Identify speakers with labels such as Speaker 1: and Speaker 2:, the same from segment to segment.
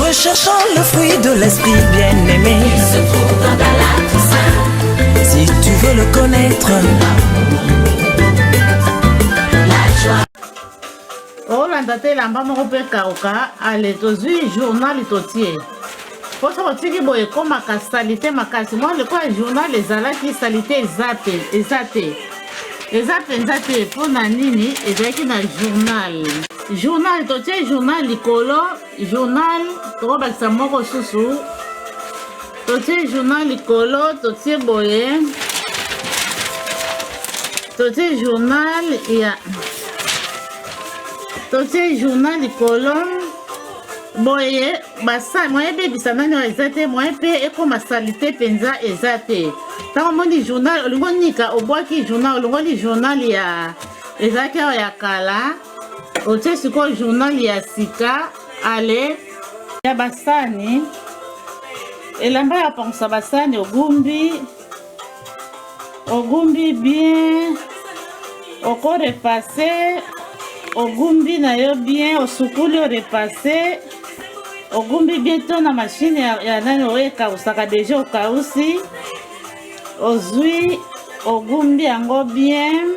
Speaker 1: Recherchant le fruit de l'esprit bien-aimé. Il se trouve dans ta
Speaker 2: latte Si tu veux
Speaker 1: le connaître.
Speaker 3: olanda te elamba moko mpe kauka ale tozwi journal totie mposo kotiki boye ekomaka salite makasi mwa lokola journal ezalaki salite eza te eza te eza mpenza te mpo na nini ezalaki na journal journal totie journal likolo journal tokobakisa moko susu totie journal likolo totie boye totie journal ya totie journal likolo boye basali moyen ebebisa nani oyo eza te moyen mpe ekoma salite mpenza eza te ntango omoni journal olingi onika obwaki journal olongoli journal ya ezalaki awa ya kala otie sikoyo journal ya sika ale ya basani elamba ya pangusa basani ogumbi ogumbi bien oko repasse ogumbi na yo bien osukuli orepasse ogumbi bien to na mashine ya, ya nani oyo ekausaka deja okausi ozwi ogumbi yango bien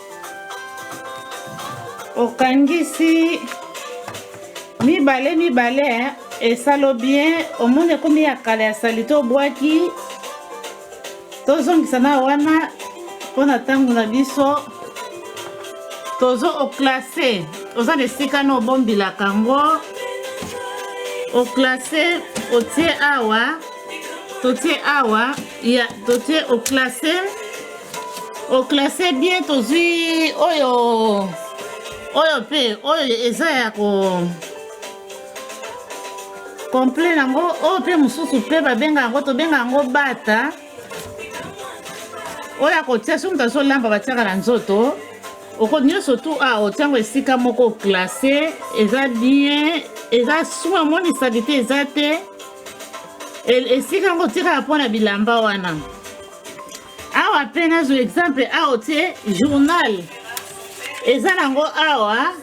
Speaker 3: okangisi mibale mibale esalo bien omoni ekomi ya kala ya salite obwaki tozongisa na wana mpo na ntango na biso tozo oklase oza na esika na obombilaka yango oklase otie awa totie awa ya totie oclasse oclasse bien tozwi oyo oyo mpe oyo eza ya ko complet yango oyo mpe mosusu mpe babenga yango tobenga yango bata oyo akotia soki moto azolamba batiaka na nzoto oko nyonso tu a ah, otiango esika moko classe eza bien eza suma moni salite eza te esika yango otikaka mpo na bilamba wana awa mpe nazwa exemple awa otie journal eza nango awa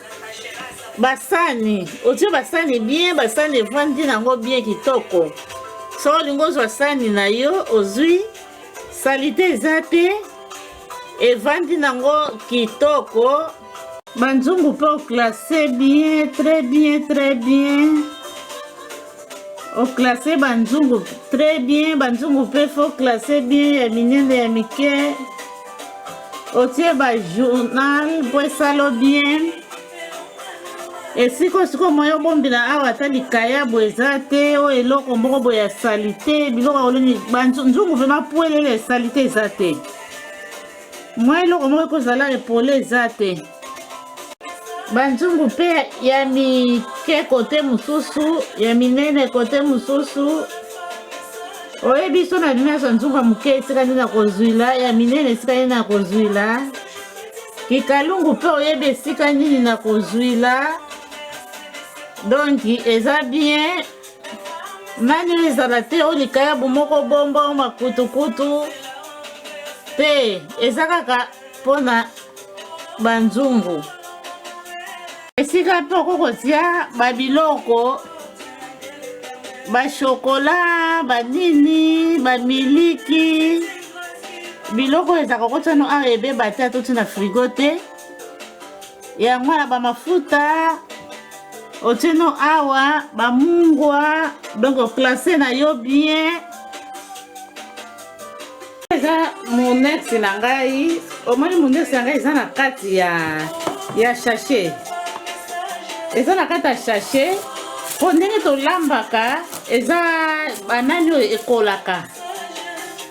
Speaker 3: basani otie basani bien basani evandi nango bien kitoko so olingi ozwa sani na yo ozwi salite eza te evandi nango kitoko Manzungu mpe oklasse bien très bien très bien oklasse banzungu très bien banzungu mpe fo klasse bien ya minene ya mike otie bajournal mpo esalo bien esika osika omoya obombela awa ata likayabo eza te oyo eloko moko boye ya salite biloko yango nzungu vraimen pwelele salite eza te mwa eloko moko ekozala epole eza te banzungu mpe ya mike kote mosusu ya minene kote mosusu oyebi so na bino nyonso nzungu ya moke esika nde na kozwila ya minene esika nde na kozwila kikalungu mpe oyebi esika nini na kozwila donki eza bien mani oyo ezala te oyo likayabu moko bombo makutukutu te eza kaka mpo na banzungu esika mpe okoki kotia babiloko bashokola banini bamiliki biloko ezaka kotiano awa ebeba te atotina frigo te yango wana ba mafuta otieno awa ba mungwa donc classe na yo bien eza monex na ngai omoni monex na ngai eza na kati ya ya sachet eza na kati ya sachet mpo ndenge tolambaka eza banani oyo ekolaka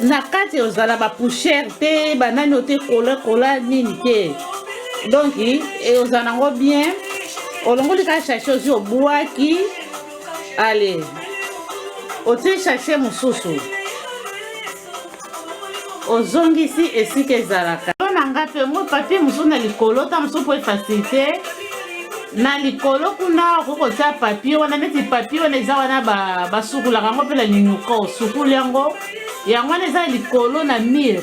Speaker 3: na kati ozala ba poussière te banani ote kola kola nini te donc ozala nango bien olongoli kaka chache ozwi obwaki ale otie chache mosusu ozongisi esika ezalaka to na ngai mpe ngo papie mosusu na likolo ta mosusu mpo efacilite na likolo kuna okoki kotya papie wana neti papie wana eza wana basukulaka yango mpe na linuka osukuli yango yango wana eza likolo na mire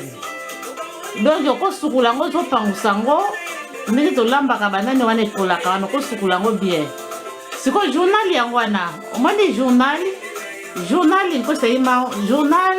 Speaker 3: donc okosukula yango ozopangusa yango ndenge tolambaka banani wana ekolaka wana okosukula yango bien sikoyo journal yango wana omoni journal journal nkosayima journal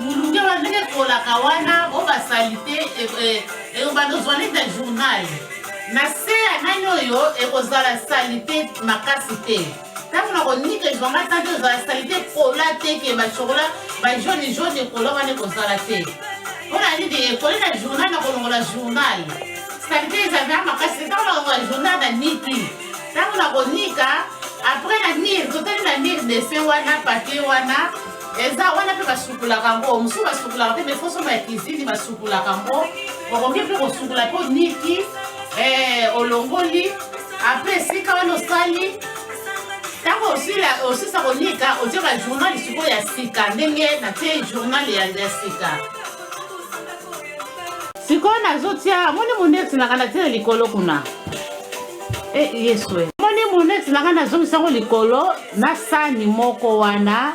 Speaker 3: mulunge wana ndenge ekolaka wana o basalite ekobanda ozwa neti ya journal na se ya nani oyo ekozala salite makasi te ntango na konika ezwanga ntan te ozala salite kola te ke bachokola bajaune jaune ekola wana ekozala te mpo na nini ekoli na journal na kolongola journal salite ezalaka makasi te ntango na kolongola journal na niki ntango na konika apres na mire totali na mire dese wana papier wana eza wana mpe basukulaka yango mosusu basukulaka mpe mefo somba ya kizini basukulaka yango okoki mpe kosukula mpe oniki eh, olongoli apres esika wana osali ntango osisa konika otie bajournal sikoyo ya sika ndenge natie journal ya sika sikoyo nazotia moni mondekisinaka natie likolo kuna e eh, yesu eh. moni muneti na ngai nazongisa yango likolo na sani moko wana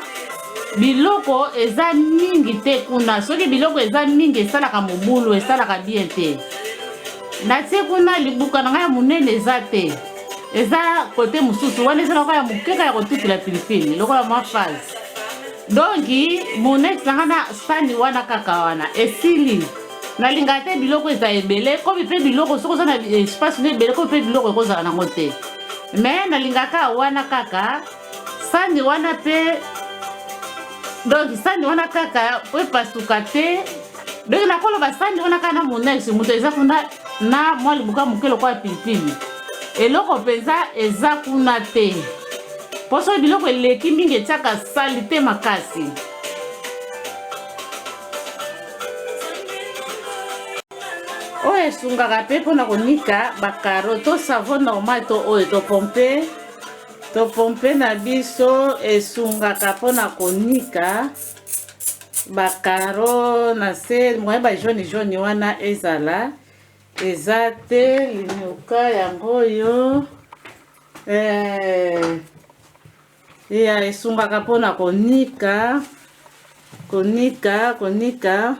Speaker 3: biloko eza mingi te kuna soki biloko eza mingi esalaka mobulu esalaka bien te natie kuna libuka na ngai ya monene eza te eza kote mosusu wana ezalaka ya mokeka ya kotutela pilipili lokola mwa fase donki moneti na ngai na sani wana kaka wana esili nalingaka te biloko eza ebele komi mpe biloko soki oza na espace no ebele komi mpe biloko ekozala nango te me nalingaka wana kaka sani wana mpe donc sani wana kaka po epasuka te donc nakoloba sani wana kaka na monese moto eza kuna na mwa libuka moke lokola pilipili eloko mpenza eza kuna te mpo soki biloko eleki mingi etiaka salite makasi oyo esungaka mpe mpona konika bakaro to savo normal to oyo topompe topompe na biso esungaka mpona konika bakaro na se moye bajaune jaune wana ezala eza te linuka yango oyo eh, ya esungaka mpona konika konika konika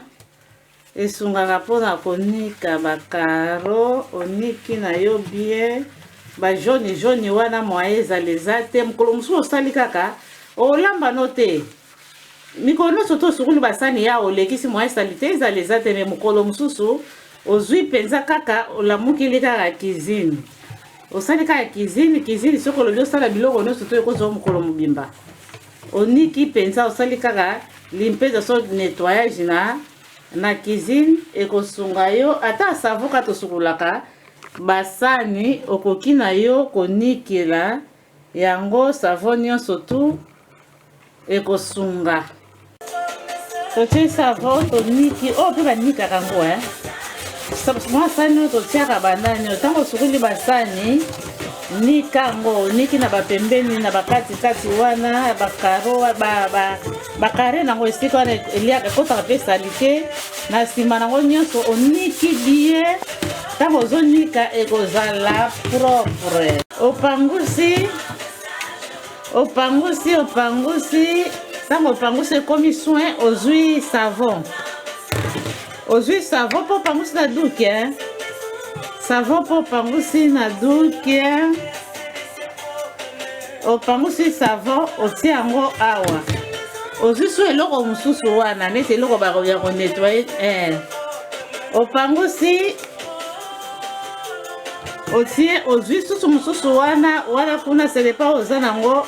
Speaker 3: esungaka mpona konika bakaro oniki na yo bie bajoni joni wana moye ezala eza te mokolo mosusu osali kaka olamba no te mikolo nyonso to sukulu basani ya olekisi moyen salite ezala eza te me mokolo mosusu ozwi mpenza kaka olamukili kaka cuisine osali kaka cuisine cuisine soki olobi osala biloko nyonso to ekozwa mokolo mobimba oniki mpenza osali kaka limpeza so nettoyage na na cuisine ekosunga yo ata savo kaka tosukolaka basani okoki na yo konikela Yango savon nionso tout ekosunga. Totie savon toniki oyo oh, mpe banikaka yango eh. Mwa sani oyo totiaka banani oyo ntango osukuli basani nika yango oniki na bapembeni na bakatikati wana bakaro ba, ba, bakare nango esika wana eliaka ekotaka mpe salite na nsima nango nyonso oniki biye ntango ozonika ekozala propre opangusi opangusi opangusi ntango opangusi ekomi soin ozwi savon ozwi savon mpo opangusi na duke eh? savon mpo opangusi na duke eh? opangusi savon otie yango awa ozwi su eloko mosusu wana neti eloko ya konettoye eh. opangusi otie ozwi susu mosusu wana wana kuna selepa oza nango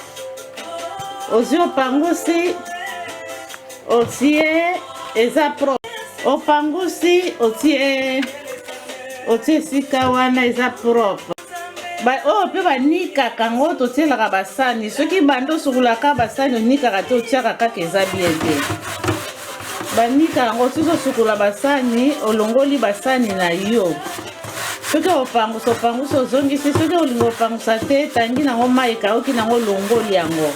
Speaker 3: ozwi opangusi otie eza pro opangusi otie otie esika wana eza propre ba oyo oh, mpe banikaka yango totielaka basani soki banda osukulaka basani onikaka te otiaka kaka eza bien te banika yango soki osukola basani olongoli basani na yo soki opangusa opangusa ozongisi soki olingi opangusa te tangi nango mai ekauki nango olongoli yango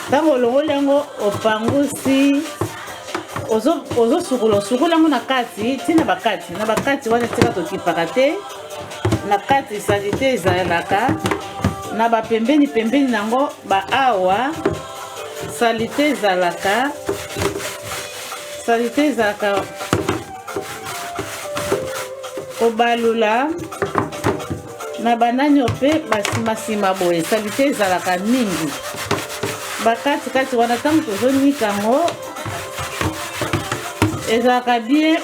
Speaker 3: ntango olongoli yango opangusi ozosukola osukola yango na kati ntina bakati na bakati wana tika tokipaka te na kati salite ezalaka na bapembeni pembeni nango baawa salite ezalaka salite ezalaka kobalula na bananio mpe basimasima boye salite ezalaka mingi bakatikati wana ntango tozonika yango ezalaka bien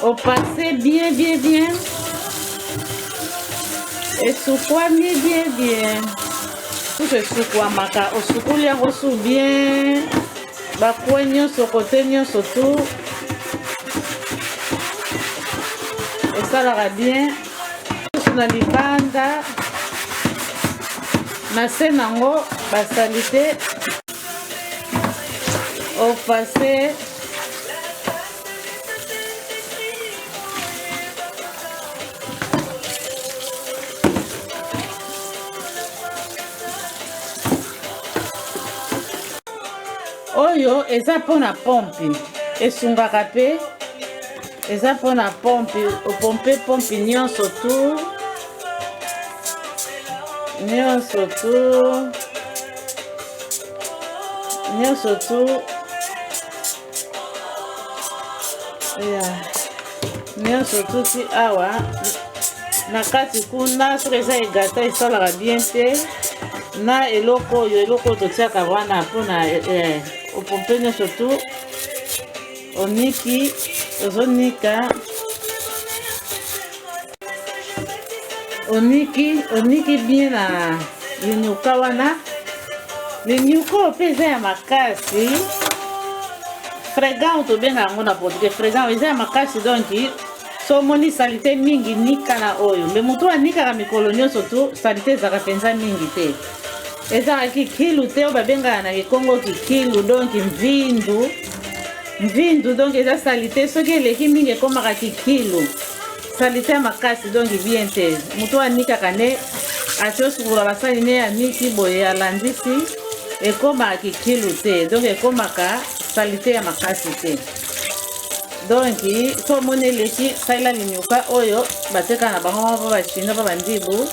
Speaker 3: au passé bien bien bien esukwami bien bien kutu esukwamaka osukuli yango su bien bakwe nyonso kote nyonso tu esalaka bien susu na libanda na se nango basalite au passé oyo eza mpona pompe esungaka mpe eza mpona pompe opompe pompe nyonso tu nyonso tu nyonso tu ya nyonso tuti awa na kati kuna soki eza egata esalaka bien te na eloko oyo eloko oyo totiaka wana mpona eh, opompe nyonso tu oniki ozonika oniki oniki bien na linyoka wana linyoka oyo mpe eza ya makasi fregant tobenga yango na portugais fregant eza ya makasi donc so omoni salite mingi nika na oyo mpe motu anikaka mikolo nyonso tu salite ezalaka mpenza mingi te ezalaka kikilu te oyo babengaka na kikongo kikilu donki mvindu mvindu donki eza salite soki eleki mingi ekomaka kikilu salite makasi donki bien te moto anikaka ne ati osukula basali ne ya miti boye alandisi ekomaka kikilu te donk ekomaka salite ya makasi te donki so omoni eleki salela linyuka oyo bateka na bango moko bachina mpo bandibu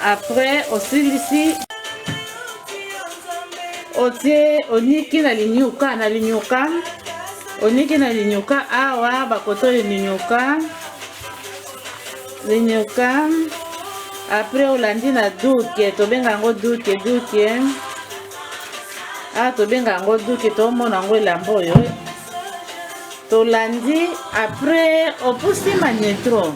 Speaker 3: apres osilisi otie oniki na linyuka na linyuka Oniki na linyoka awa bakotoli linyoka linyoka apres olandi na duke tobenga yango duke duke awa ah, tobenga yango duke tomona yango elamba oyo tolandi apres opusi manetro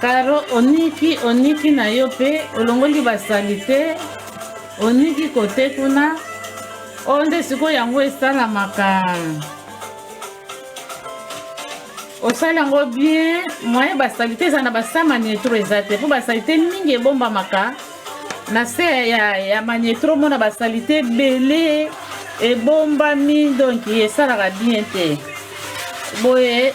Speaker 3: Caro oniki oniki na yo pe olongoli ba salite oniki kote kuna oyo oh, nde sikoyo yango esalamaka osali yango bien moyen basalite eza na basa manietro eza te mpo basalite mingi ebombamaka na se ya, ya manietro mona basalite ebele ebombami donki esalaka bien te boye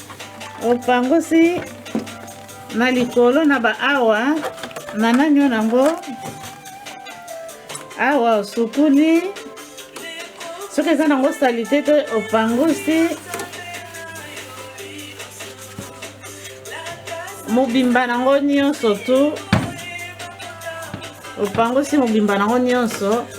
Speaker 3: opangusi na likolo na ba awa na nanyo nango awa osukuli soki eza nango salite te opangusi mobimba nango nyonso tu opangusi mobimba nango nyonso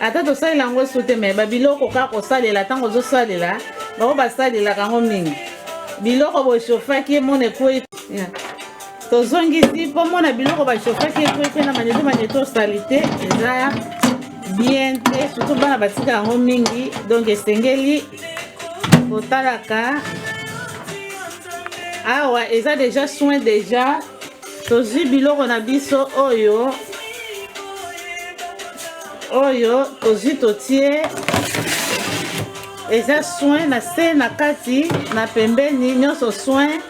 Speaker 3: ata tosalela yango esu te me babiloko kaka kosalela ntango ozosalela bango basalelaka yango mingi biloko boshofaki emona ekwei tozongisi mpo mona biloko bashofaki ekwei mpe na maneto maneto salite eza bien te surtout bana batika yango mingi donc esengeli kotalaka awa eza deja soin deja tozwi biloko na biso oyo oyo tozwi totie eza soin na se na kati na pembeni nyonso soin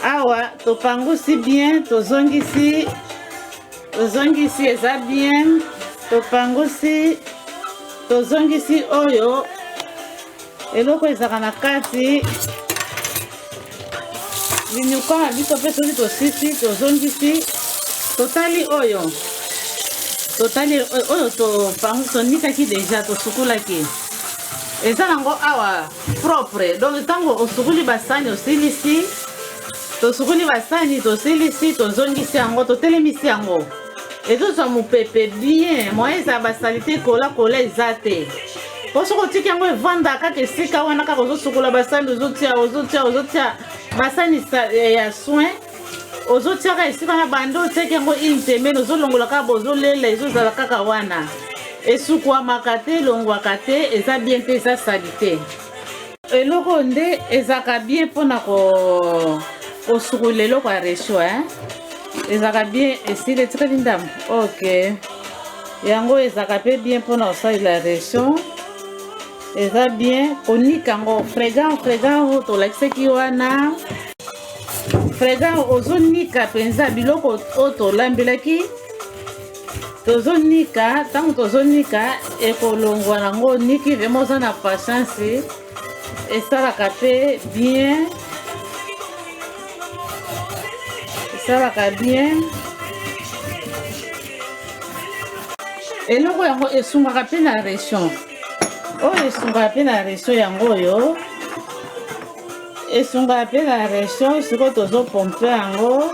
Speaker 3: awa topangusi bien tozongisi tozongisi eza bien topangusi tozongisi oyo eloko ezalaka na kati linyuka na biso mpe soki tosisi tozongisi totali oyo totali oyo topangu tonikaki deja tosukulaki eza nango awa propre donc ntango osukuli basani osilisi tosukuli basani tosilisi tozongisi yango totelemisi yango ezozwa mopepe bien moyen ezala basalite kola kola eza te mpo soki otiki yango evanda kaka esika wana kaka ozosukola basani ozotia ozotia ozotia basani eh, ya soin ozotiaka esika na bande otiaki yango une semaine ozolongola kaka bozolela ezozala kaka wana esukwamaka te elongwaka te eza bien te eza salite eloko oyo nde ezalaka bien mpona kosukola eloko ya resho e eh? ezalaka bien esili etikali ndambo ok yango ezalaka mpe bien mpona kosalela resho eza bien konika yango fregan fregan tolakisaki wana fregan ozonika mpenza biloko oyo tolambelaki tozonika ntango tozonika ekolongwa nango oniki vraimen oza na patience esalaka mpe bien esalaka bien eloko yango esungaka mpe na région oyo esungaka mpe na région yango oyo esungaka mpe na région sikoyo tozopompe yango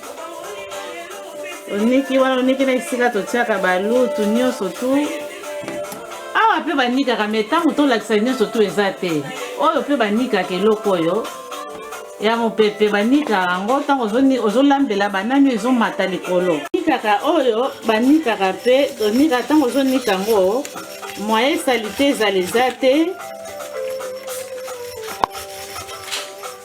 Speaker 3: oniki wana oniki na esika totiaka balutu nyonso tu awa mpe banikaka me ntango tolakisa nyonso tu eza te oyo mpe banikaka eloko oyo ya mopepe banikaka yango ntango ozolambela banani ezomata likolo nikaka oyo banikaka mpe tonika ntango ozonika yango moye salite ezala eza te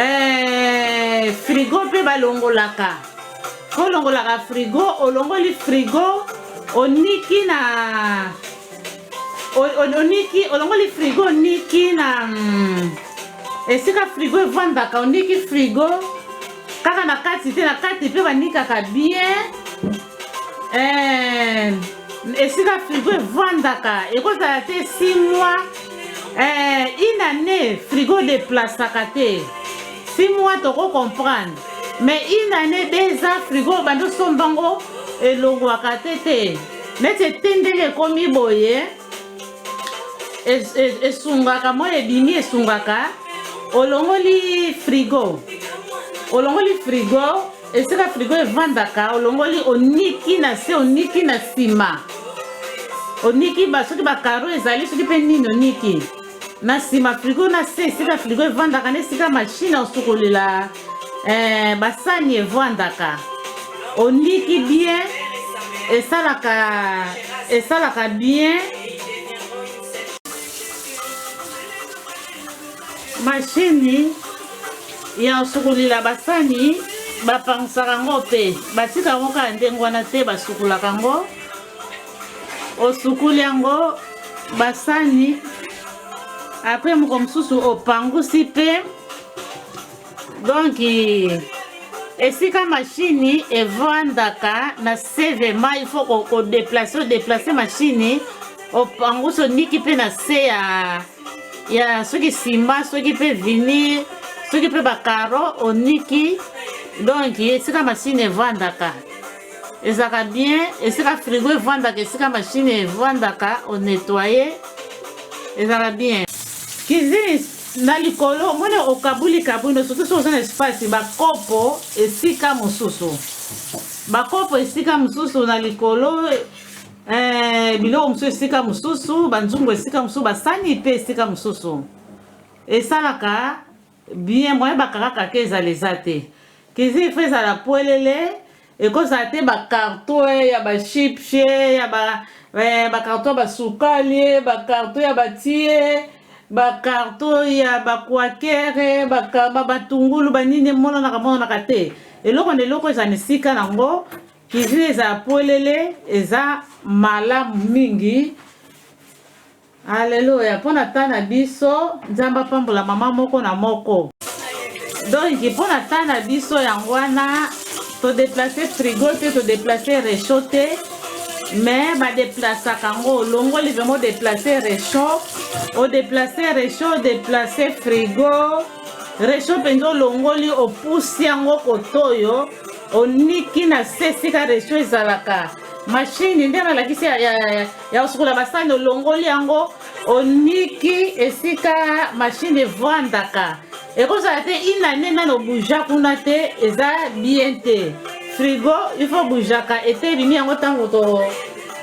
Speaker 3: eh, frigo mpe balongolaka olongolaka frigo olongoli frigo oniki na oniki olongoli frigo oniki na mm, esika frigo evandaka oniki frigo kaka na kati te na kati mpe banikaka bien eh, esika frigo evandaka ekozala te 6 mois eh, une année frigo deplasaka te 6 mois toko comprendre mais une année deux ans frigo obandi osomba ngo elongwaka te te neti etindeli ekomi boye esungaka moi ebimi esungaka olongoli frigo olongoli frigo esika frigo evandaka olongoli oniki na se oniki na nsima oniki ba soki bakaro ezali soki mpe nini oniki na nsima frigo na se esika frigo evandaka na esika mashine osukolela eh, basani evandaka oniki bien esalaka esalaka bien Mashini ya kosukolila basani bapangisaka yango mpe batika yango kaka ndenge wana te basukolaka yango osukoli yango basani apres moko mosusu opangusi mpe donki esika mashini evandaka na se vrema il faut kodeplace odeplace mashini opangusi oniki mpe na se ya ya soki sima soki mpe vinir soki mpe bacaro oniki donk esika masini evandaka ezalaka bien esika frigo evandaka esika mashine evandaka onetoye ezalaka bien cuisine na likolo omoni okabuli kabuli no surtout soki oza na espace bakopo esika mosusu bakopo esika mosusu na likolo Eh, biloko mosusu esika mosusu, banzungu esika mosusu, basani mpe esika mosusu esalaka bien moyen bakakaka ke ezala eza te kizi ifo ezala polele ekozala te bakarto eh, ya bashipshe eh, ya bakarto ya basukali bakarto ya batie bakarto ya bakwakere batungulu banini emonanaka monanaka te eloko na eloko ezala na esika nango Cuisine ezala polele eza malamu mingi. Alleluia pona temps na biso Nzambe apambola mama moko na moko. Donc pona temps na biso yango wana to déplacer frigo te to déplacer réchaud te mais ba déplaçaka ngo olongoli vraiment déplacer réchaud o déplacer réchaud o déplacer frigo réchaud mpenza olongoli opusi yango kotoyo oniki na se esika resto ezalaka mashini nde nalakisi ya, ya, ya, ya kosukola basani olongoli yango oniki esika mashini evandaka ekozala te inane nano buja kuna te eza bien te frigo ifo bujaka ete ebimi yango ntango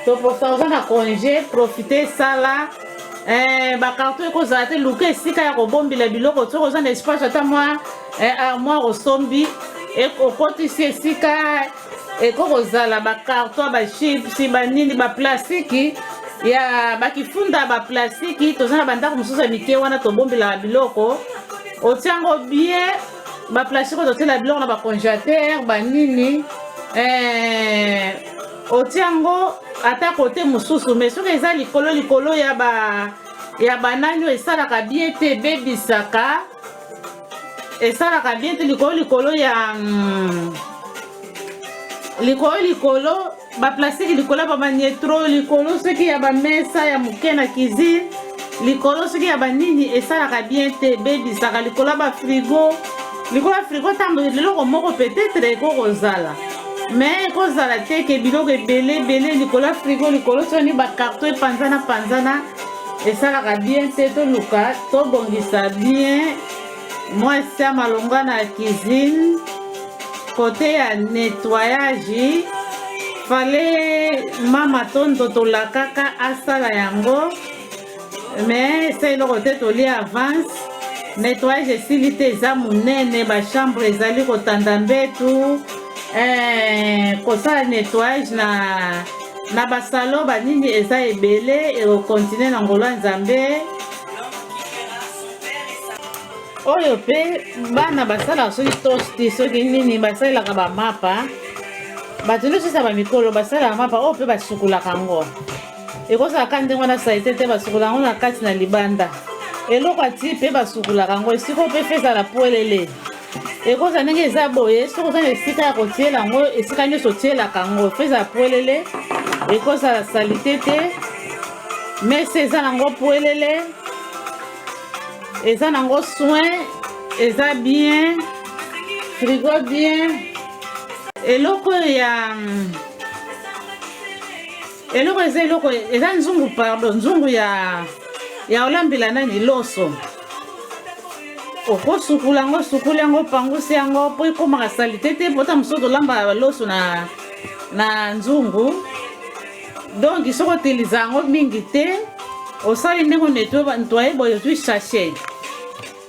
Speaker 3: toposa oza na congé profite sala eh, bakarton ekozala te luka esika ya kobombela biloko soki oza na espace ata mwa eh, armoire osombi okotisi esika eko kozala bacarton bachipsi banini baplastiki ya bakifunda baplastiki toza na bandako mosusu ya mike wana tobombelaka biloko otiango bien baplastiki oyo totyela biloko na bacongelateur banini eh, otiango ata kote mosusu mai soki eza likolo likolo ya ba ya banani oyo esalaka bien te ebebisaka esalaka bien te likolo likolo ya mm, likolo likolo baplastique likolo ya bamanietro likolo soki ya bamesa ya moke na cuisine likolo soki ya banini esalaka bien te ebebisaka likolo ya bafrigo likolo ya frigo ntango eloko moko peut-être ekoki kozala mais ekozala te ke biloko ebele ebele likolo ya frigo likolo soni bakarto epanzana panzana esalaka bien te toluka tobongisa bien mwasi ya malonga na cuisine kote ya nettoyage fale mama tondo tolakaka asala yango me esa eloko te toli avance nettoyage esili te eza monene bachambre ezali kotanda mbetu eh, kosala nettoyage na Na ba salon ba nini eza ebele eko continue na ngolo ya Nzambe. Oyo pe bana basalaka soki tosti soki nini basalelaka ba mapa bato nyonso esa bamikolo basalaka mapa oyo mpe basukolaka yango ekozala ka ndenge wana salite te basukola yango na kati na libanda eloko ati mpe basukolaka yango esiko mpe fezala pwelele ekozala ndenge eza boye soki oza na esika ya kotiela yango esika nyonso otielaka yango fo ezala pwelele ekozala salite te mesa eza nango pwelele eza nango soin eza bien frigo bien eloko ya Eloko eza eloko eza nzungu pardon nzungu ya ya olambela nani loso okosukula yango sukuli yango pangusi yango mpo ekomaka salite te mpo ta mosusu tolambaka loso na, na nzungu donc soki otiliza yango mingi te osali ndenge netwaye boye ozwi sachet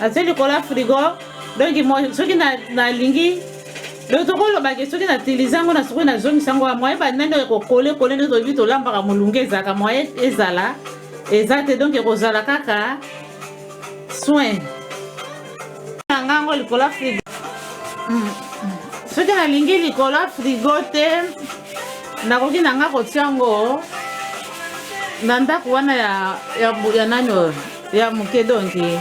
Speaker 3: natie likolo ya frigo donki soki nalingi na donc tokolobake soki natiliza yango na soki nazongisa yango moye bandani oyo ekokole kole nde toyebi tolambaka molunge ezalaka moye ezala eza te donc ekozala kaka soin na nga yango likolo ya frigo mm. soki nalingi likolo ya frigo te nakoki na nga kotia yango na ndako wana ya, ya, ya nani oyo ya moke donki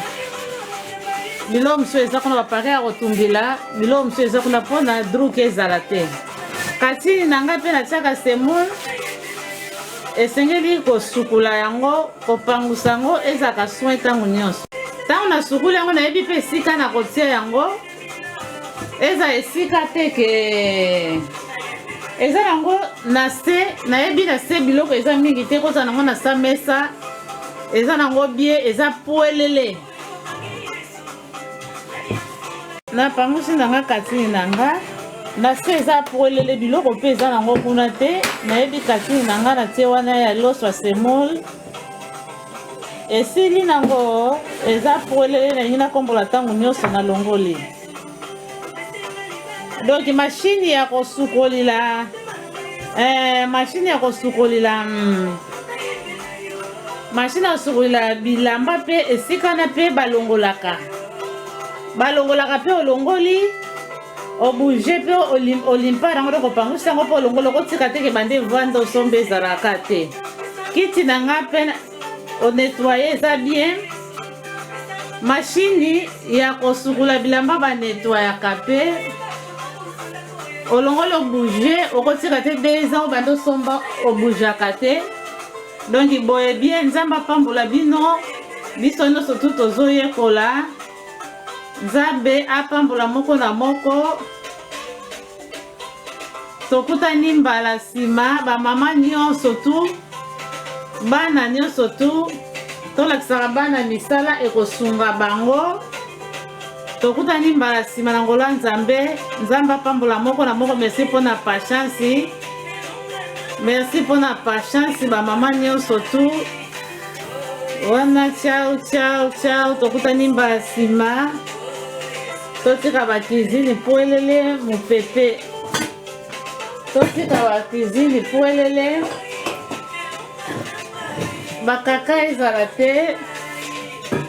Speaker 3: biloko mosusu eza kuna bapare ya kotumbila biloko mosusu eza kuna mpona druke ezala te kasi na ngai mpe natiaka semoule esengeli kosukula yango Kopangusa yango ezalaka soin ntango nyonso. Ntango nasukuli yango nayebi mpe esika na kotia yango eza esika te ke eza yango na se nayebi na se biloko eza mingi te kozala nango na sa mesa eza nango bie eza pwelele napangusi na nga katini na nga na se eza polele biloko mpe eza nango kuna te nayebi katini na nga na tie wana ya loso ya semol esili nango eza polele nalingi nakombola ntango nyonso na longoli donki mashini ya kosukolila eh, mashini ya kosukolila mm, mashine ya sukolela bilamba mpe esika na mpe balongolaka balongolaka mpe olongoli obouge mpe olimpa yango nde kopangusa yango mpo olongoli okotika teke bande vanda osomba ezalaka te kiti na ngai mpe onetwaye eza bien mashini ya kosukula bilamba banetwayaka mpe olongoli obouge okotika te deux ans obanda osomba obougaka te donc boye bien nzambe apambola bino biso nyonso tu tozoyekola nzambe apambola moko na moko tokutani mbala nsima bamama nyonso tu bana nyonso tu tolakisaka bana misala ekosunga bango tokutani mbala nsima na ngola nzambe nzambe apambola moko na moko merci mpo na patience merci mpo na patience bamama nyonso tu wana ciao ciao ciao tokutani mbala nsima totika bakizini pwelele mopepe totika bakizini pwelele bakaka ezala te